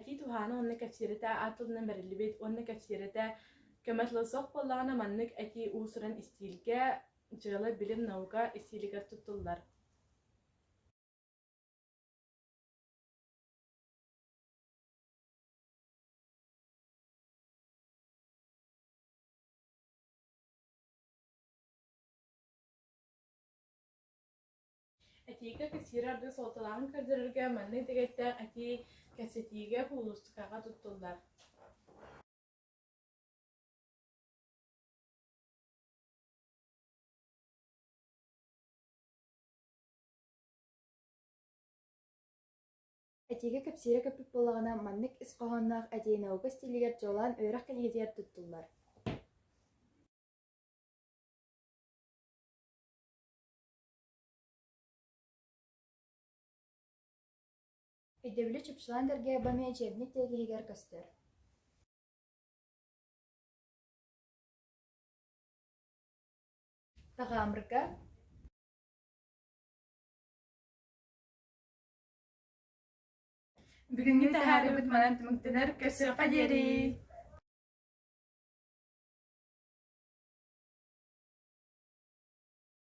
Этии туһаана уонна кэпсиирэтэ аат тылынан бэриллибит уонна кэпсиирэтэ көмө тыла суох буоллаҕына маннык этии уусуран истиилгэ, дьыала, билим, наука истиилигэр туттуллар. Этиикэ кэссиирэ аргыс уолталааҕын көрдөрөргө маннык дэгэттээх этии кэпсэтиигэ кулуустукаҕа туттуллар Этиикэ кэпсиирэ көппүт буоллаҕына, маннык ис хоһоонноох этии наука стилигэр дьолоон үөрэх кэлгитигэр туттуллар Өйдөбүлэ чупчулаан дэргээбэни учебник тиэкиһигэр көстөр Таҕаамырга Бүгүҥҥү таһаарыыбыт манан түмүктэнэр көрсүөххэ диэри